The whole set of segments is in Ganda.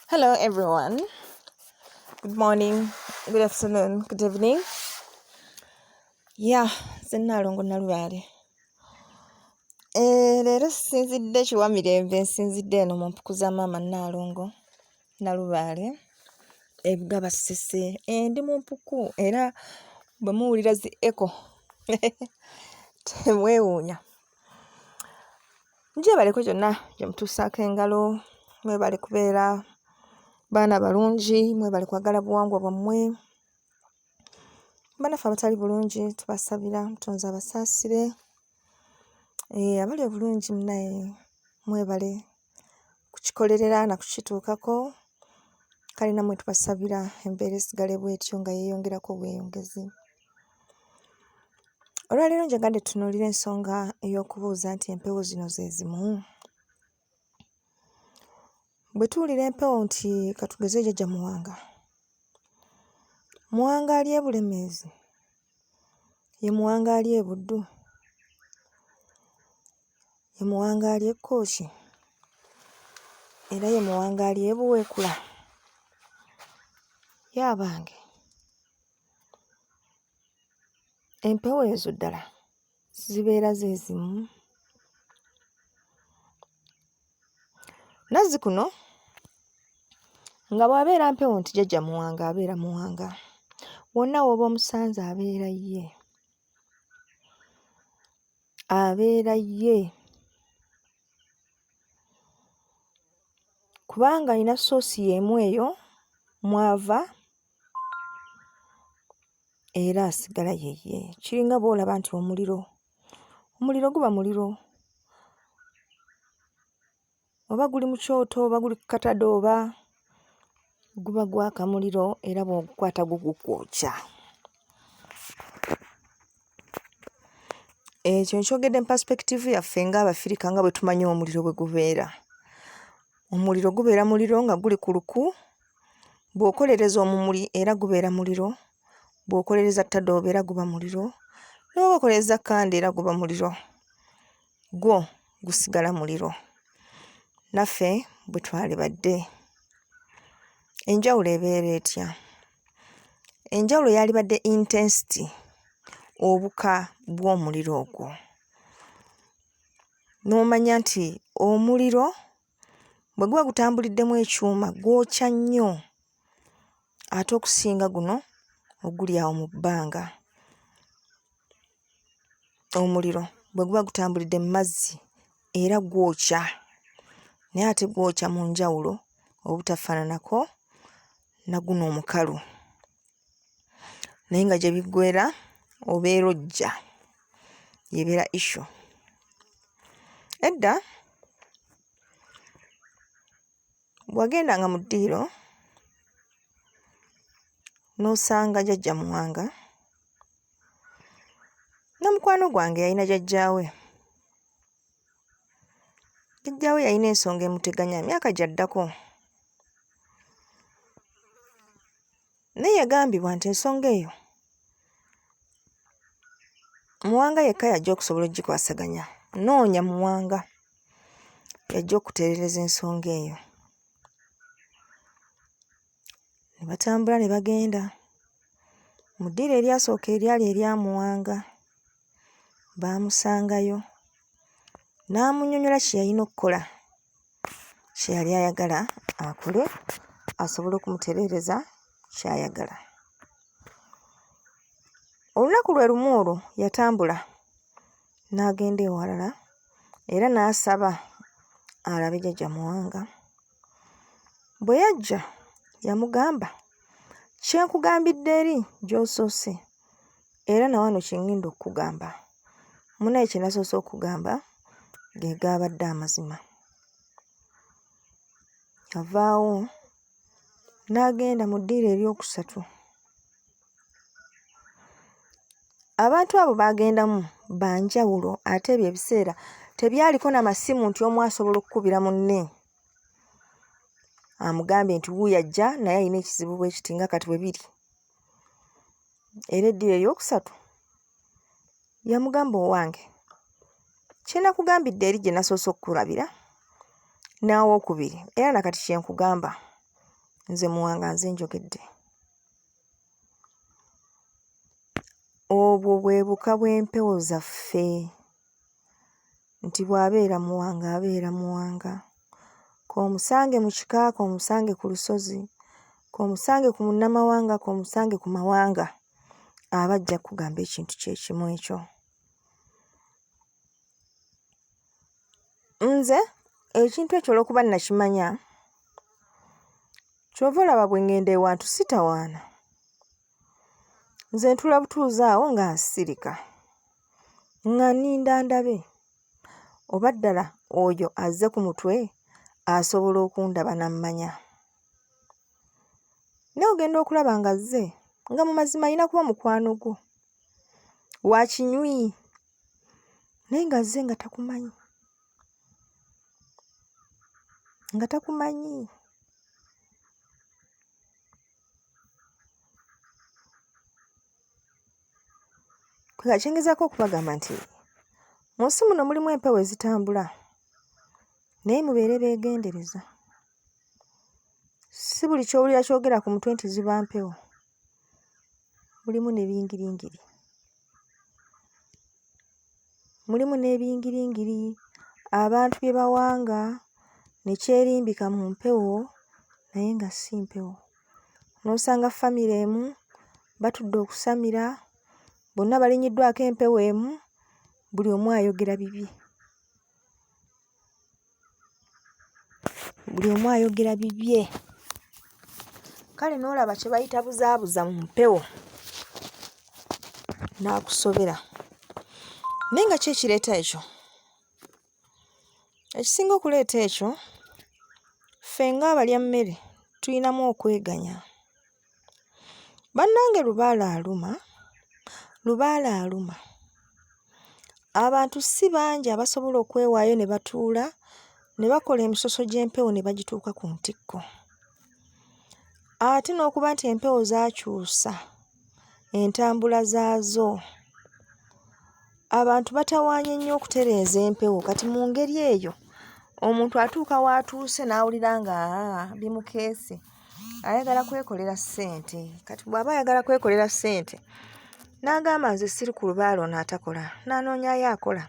Hello, everyone. Good morning, good afternoon, good evening. Yeah, Zenalongo Nalubale. Eh, leero sinzidde kiwa mirembe nsinzidde eno mu mpuku za maama Nnaalongo Nalubaale ebuga basese endi mu mpuku era bwe muwulira zi eko temwewuunya gyebaleko gyonna gyemutuusaako engalo mwebale kubeera baana balungi mwebale kwagala buwangwa bwammwe banaffe abatali bulungi tubasabira mutonzi abasaasire eh, abali obulungi munaye mwebale kukikolerera na kukituukako kale namwe tubasabira embeera esigale bwetyo nga yeyongerako bweyongezi olwaleero njagadde tunuulira ensonga ey'okubuuza nti empewo zino ze zimu bwe tuwulira empewo nti katugeze jajja muwanga muwanga ali ebulemeezi ye muwanga ali ebuddu ye muwanga ali ekkooki era ye muwanga ali ebuweekula yaabange Empewo ezo ddala zibeera ze zimu. Nazzikuno nga bw'abeera mpewo nti jjajja Muwanga abeera Muwanga, wonna w'oba omusanze abeera ye, abeera ye. kubanga alina soosi y'emu eyo mw'ava era asigala yeye kiringa bwolaba nti omuliro omuliro guba muliro oba guli mu kyoto oba guli ku katade oba guba gwaka muliro era bwogukwata gugukwokya ekyo nkyogedde mu perspective yaffe nga abafirika nga bwe tumanyi omuliro bwe gubeera omuliro gubeera muliro nga guli ku luku Bw'okolereza omumuli era gubeera muliro, bw'okolereza ttadooba era guba muliro, n'oba okolereza kkanda era guba muliro, gwo gusigala muliro. Naffe bwe twalibadde. Enjawulo ebeera etya? Enjawulo yalibadde intensity, obuka bw'omuliro ogwo. N'omanya nti omuliro bwe guba gutambuliddemu ekyuma gwokya nnyo ate okusinga guno oguli awo mu bbanga omuliro bwe guba gutambulidde mu mazzi era gwokya naye ate gwokya mu njawulo obutafaananako na guno omukalu. naye nga gye biggwera obeera ojja yebeera issu edda bwagendanga mu ddiiro n'osanga jajja muwanga na mukwano gwange yalina jajjaawe Jajja we yalina ensonga emuteganya myaka gyaddako. Naye yagambibwa nti ensonga eyo Muwanga yekka yajja okusobola okugikwasaganya. Noonya Muwanga yajja okutereereza ensonga eyo. Ne batambula ne bagenda mu ddiiro eryasooka eryali erya Muwanga. Baamusangayo n'amunnyonnyola kye yalina okukola, kye yali ayagala akole asobole okumutereereza ky'ayagala. Olunaku lwe lumu olwo yatambula n'agenda ewalala era n'asaba alabe Jajja Muwanga Bwe yajja, yamugamba, Kye nkugambidde eri gy'osoose, era na wano kye ŋŋenda okukugamba. Munnaaye kye nasoose okugamba ge gaabadde amazima. Yavaawo n'agenda mu ddiiro eryokusatu. Abantu abo baagendamu ba njawulo ate ebyo ebiseera tebyaliko na masimu nti omu asobola okukubira munne amugambye nti wuuyo ajja naye alina ekizibu bwe kiti nga kati bwe biri. Era eddiba eryokusatu yamugamba owange kye nakugambidde eri gye nasoose okukulabira n'awookubiri era na kati kye nkugamba nze Muwanga nze njogedde. Obwo bwe buka bw'empewo zaffe nti bw'abeera Muwanga abeera Muwanga, k'omusange mu kika k'omusange ku lusozi, k'omusange ku munnamawanga k'omusange ku mawanga aba ajja kukugamba ekintu kye kimu ekyo. nze ekintu ekyo olwokuba nakimanya kyova olaba bwe ngenda ewantu sitawaana nze ntula butuuzi awo nga nsirika nga ninda ndabe oba ddala oyo azze ku mutwe asobola okundaba nammanya naye ogenda okulaba nga azze nga mu mazima alina kuba mukwano gwo wakinywi naye ng'azze nga takumanyi, nga takumanyi. Nga kye ngezaako okubagamba nti mu nsi muno mulimu empewo ezitambula naye mubeere beegendereza. Si buli ky'owulira kyogera ku mutwe nti ziba mpewo. mulimu ne bingiringiri, mulimu n'ebingiringiri abantu bye bawanga ne kyerimbika mu mpewo naye nga si mpewo. N'osanga famire emu batudde okusamira, bonna balinyiddwako empewo emu, buli omu ayogera bibye. buli omu ayogera bibye kale n'olaba kye bayita buzaabuza mu mpewo n'akusobera naye nga ki ekireeta ekyo ekisinga okuleeta ekyo ffe ng'abalya mmere tulinamu okweganya Bannange lubaale aluma, lubaale aluma. Abantu si bangi abasobola okwewaayo ne batuula ne bakola emisoso gy'empewo ne bagituuka ku ntikko. Ate n'okuba nti empewo zaakyusa entambula zaazo, Abantu batawaanye nnyo okutereeza empewo kati mu ngeri eyo omuntu atuuka w'atuuse n'awulira nga ah, bimukeese ayagala kwekolera ssente kati bw'aba ayagala kwekolera ssente n'agamba nze siri ku lubaala ono atakola n'anoonyayo akola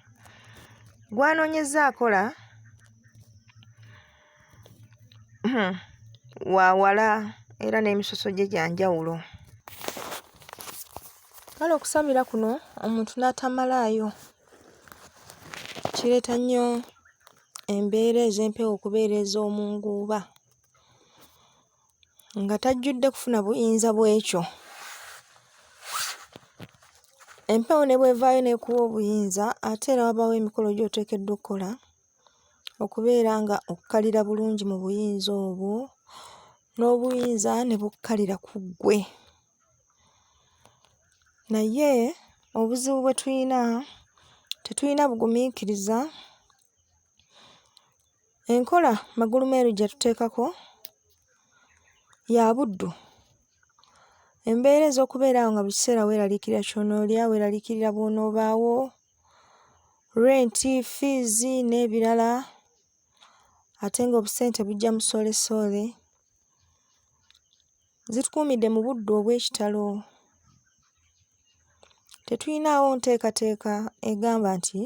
gw'anoonyezza akola hmm, wa wala era n'emisoso gye gya njawulo kale okusabira kuno omuntu n'atamalaayo kireeta nnyo embeera ez'empewo okubeera ez'omu nguuba nga tajjudde kufuna buyinza bw'ekyo empewo ne bw'evaayo n'ekuwa obuyinza ate era wabaawo emikolo gy'oteekeddwa okukola okubeera nga okkalira bulungi mu buyinza obwo n'obuyinza ne bukkalira ku ggwe naye obuzibu bwe tulina tetulina bugumiikiriza enkola magulumeeru gye tuteekako ya buddu embeera ez'okubeera awo nga buli kiseera weeraliikirira ky'onoolya weeraliikirira bw'onoobaawo rent, fees n'ebirala ate ng'obusente bujja musoolesole. Zitukuumidde mu budde obw'ekitalo. Tetulinaawo nteekateeka egamba nti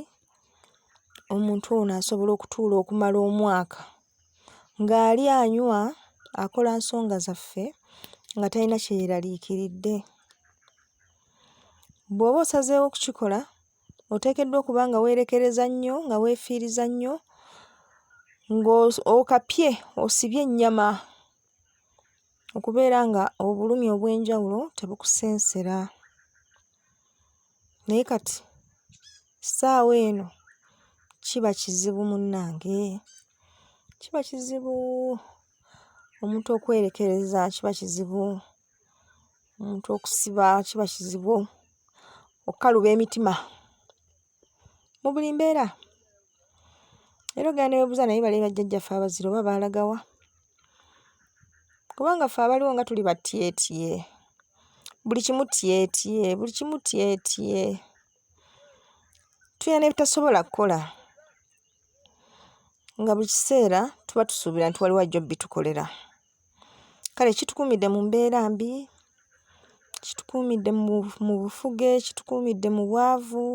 omuntu ono asobola okutuula okumala omwaka ng'ali anywa akola nsonga zaffe nga talina kye yeeraliikiridde. Bw'oba osazeewo okukikola, oteekeddwa okuba nga weerekereza nnyo, nga weefiiriza nnyo, ng'okapye osibye ennyama okubeera nga obulumi obw'enjawulo tebukusensera. Naye kati ssaawa eno kiba kizibu munnange, kiba kizibu omuntu okwerekereza kiba kizibu. omuntu okusiba kiba kizibu okukaluba emitima mu buli mbeera era ogenda ne weebuuza naye bali bajjajjaffe abazira oba baalagawa kubanga ffe abaliwo nga tuli batyetye buli kimu tyetye buli kimu tyetye tulina ne bitasobola kukola nga buli kiseera tuba tusuubira nti waliwo ajja obitukolera Kale kitukuumidde mu mbeera mbi, kitukuumidde mu mu bufuge, kitukuumidde mu bwavu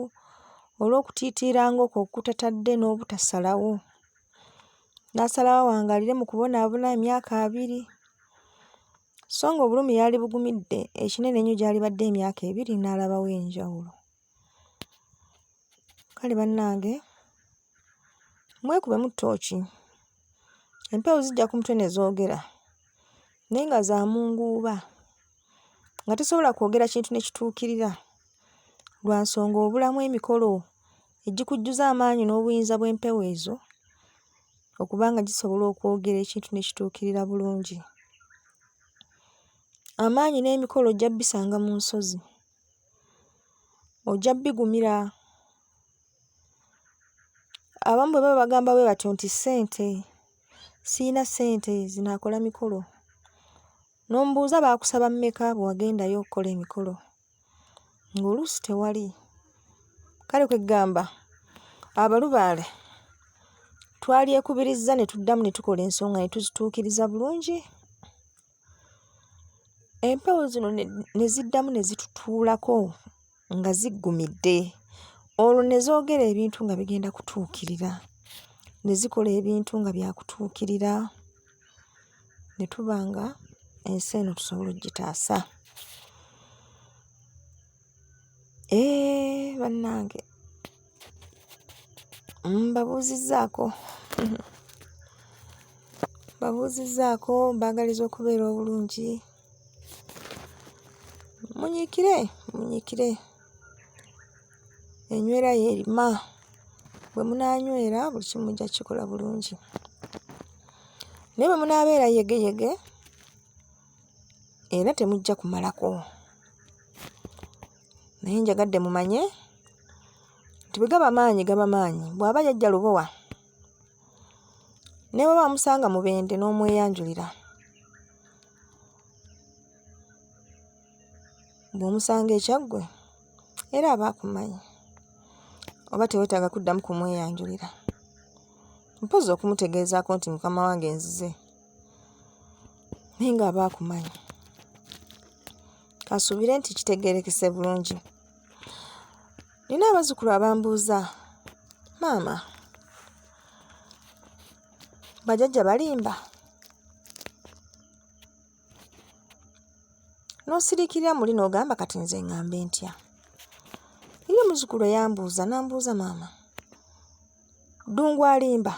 olw'okutiitiira ng'okwo okutatadde n'obutasalawo. N'asalawo awangaalire mu kubonaabona emyaka abiri, so ng'obulumi yaalibugumidde ekinene ennyo gy'alibadde emyaka ebiri n'alabawo enjawulo. Kale bannange mwekubemu ttooki, empewo zijja ku mutwe ne zoogera naye nga za munguuba nga tesobola kwogera kintu ne kituukirira lwa nsonga obulamu emikolo egikujjuza amaanyi n'obuyinza bw'empewo ezo okuba nga gisobola okwogera ekintu ne kituukirira bulungi. Amaanyi n'emikolo ojja bisanga mu nsozi. ojja bigumira. Abamu bwe baba bagamba bwe batyo nti ssente, sirina ssente zinaakola mikolo, n'omubuuza baakusaba mmeka bwe wagendayo okukola emikolo ng'oluusi tewali. Kale kwe ggamba abalubaale twalyekubirizza ne tuddamu ne tukola ensonga ne tuzituukiriza bulungi. Empewo zino ne ziddamu ne zitutuulako nga ziggumidde olwo ne zoogera ebintu nga bigenda kutuukirira, ne zikola ebintu nga byakutuukirira ne tuba nga ensi eno tusobola okugitaasa. Eee, eh, bannange mbabuuzizzaako mbabuuzizzaako mbaagaliza okubeera obulungi munyiikire munyiikire enywera yeerima bwe munaanywera buli kimu mujja kukikola bulungi naye bwe munaabeera yegeyege era temujja kumalako naye njagadde mumanye nti bwe gaba maanyi gaba maanyi bw'aba yajja lubowa ne bwe bamusanga mubende n'omweyanjulira bw'omusanga ekyaggwe era aba akumanyi oba tewetaaga kuddamu kumweyanjulira mpozi okumutegeezaako nti mukama wange nzize naye nga aba akumanya kasuubire nti kitegerekese bulungi nina abazukulu abambuuza maama bajajja balimba n'osirikirira muli n'ogamba kati nze ngambe ntya eri omuzukulu eyambuuza nambuuza maama ddungu alimba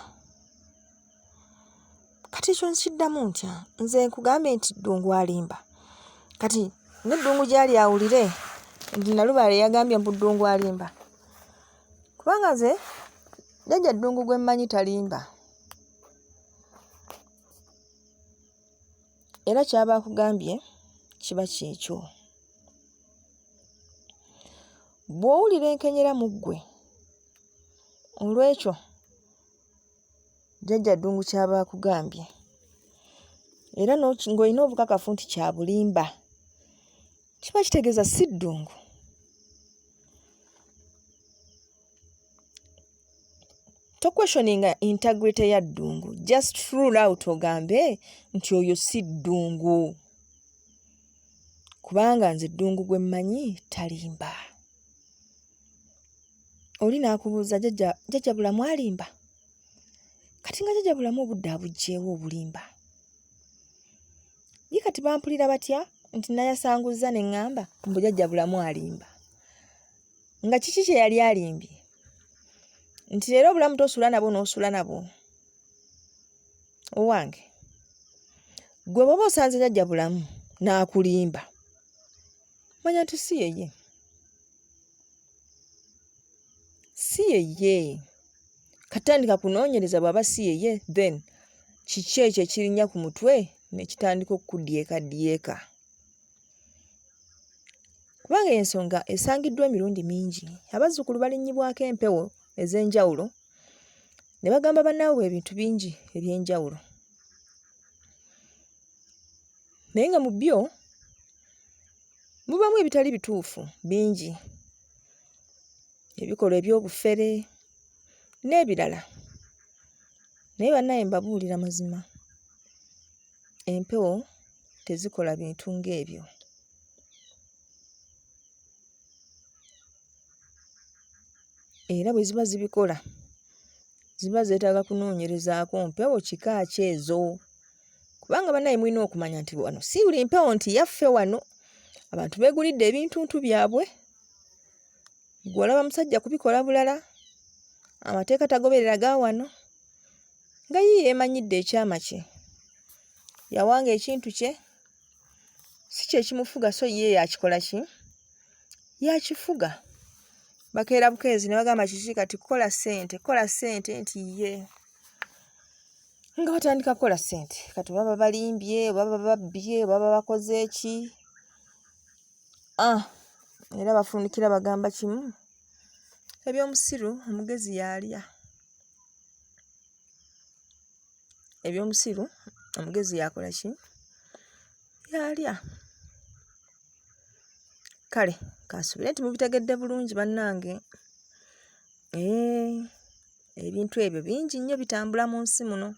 kati ekyo nkiddamu ntya nze nkugambe nti ddungu alimba kati neddungu gyali awulire nti nalubaale yagambye mbu ddungu alimba kubanga nze jajja ddungu gwe mmanyi talimba era kyaba akugambye kiba kyekyo bw'owulira enkenyera mu ggwe olw'ekyo Jjajja Ddungu ky'aba akugambye era ng'olina obukakafu nti kya bulimba kiba kitegeeza si ddungu. Tokweshoninga integrity ya ddungu just rule out ogambe nti oyo si ddungu kubanga nze ddungu gwe mmanyi talimba. oli n'akubuuza jajja jajja bulamu alimba kati nga jajja bulamu obudde abugyewo obulimba ye kati bampulira batya nti nayasanguzza ne ŋŋamba mbu jajja bulamu alimba nga kiki kye yali alimbye nti leero obulamu tosula nabwo n'osula nabwo owange gwe bwoba osanze jajja bulamu n'akulimba manya nti si yeye si yeye katandika kunoonyereza bw'aba si yeye then kiki ekyo ekirinya ku mutwe ne kitandika okukudyekadyeka kubanga ensonga esangiddwa emirundi mingi abazzukulu balinnyibwako empewo ez'enjawulo ne bagamba bannaabwe ebintu bingi eby'enjawulo naye nga mu byo mubaamu ebitali bituufu bingi, ebikolwa eby'obufere n'ebirala. Naye bannaaye mbabuulira mazima, empewo tezikola bintu ng'ebyo. Era bwe ziba zibikola ziba zeetaaga kunoonyerezaako mpewo kika ki ezo. kubanga banaye mulina okumanya nti wano si buli mpewo nti yaffe wano abantu begulidde ebintuntu byabwe gwe olaba musajja kubikola bulala amateeka tagoberera ga wano nga yiye emanyidde ekyama kye yawanga ekintu kye si kyekimufuga so ye yakikola ki yakifuga bakeera bukeezi ne bagamba kiki kati kukola ssente kukola ssente nti ye nga batandika kukola ssente kati baba balimbye baba babbye baba bakoze eki ah, era bafundikira bagamba kimu ebyomusiru omugezi yaalya ebyomusiru omugezi yakola ki yaalya kale kansubire nti mubitegedde bulungi bannange ee eh. ebintu ebyo bingi nnyo bitambula mu nsi muno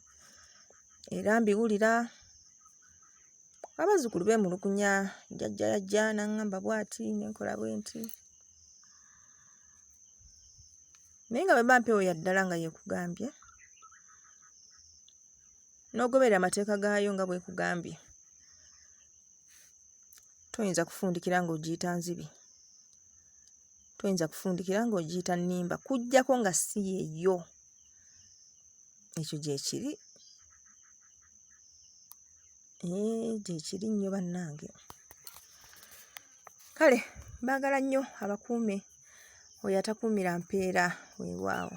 era mbiwulira abazzukulu beemulugunya jajja yajja n'aŋŋamba bw'ati ne nkola bwe nti naye nga bwe ba mpewo ya ddala nga yeekugambye n'ogoberera amateeka gaayo nga bwekugambye toyinza kufundikira ng'ogiyita nzibi toyinza kufundikira ng'ogiyita nnimba kujjako nga si yeyo ekyo gyekiri eh, gyekiri nnyo bannange kale baagala nnyo abakuume oyo atakuumira mpeera weewaawo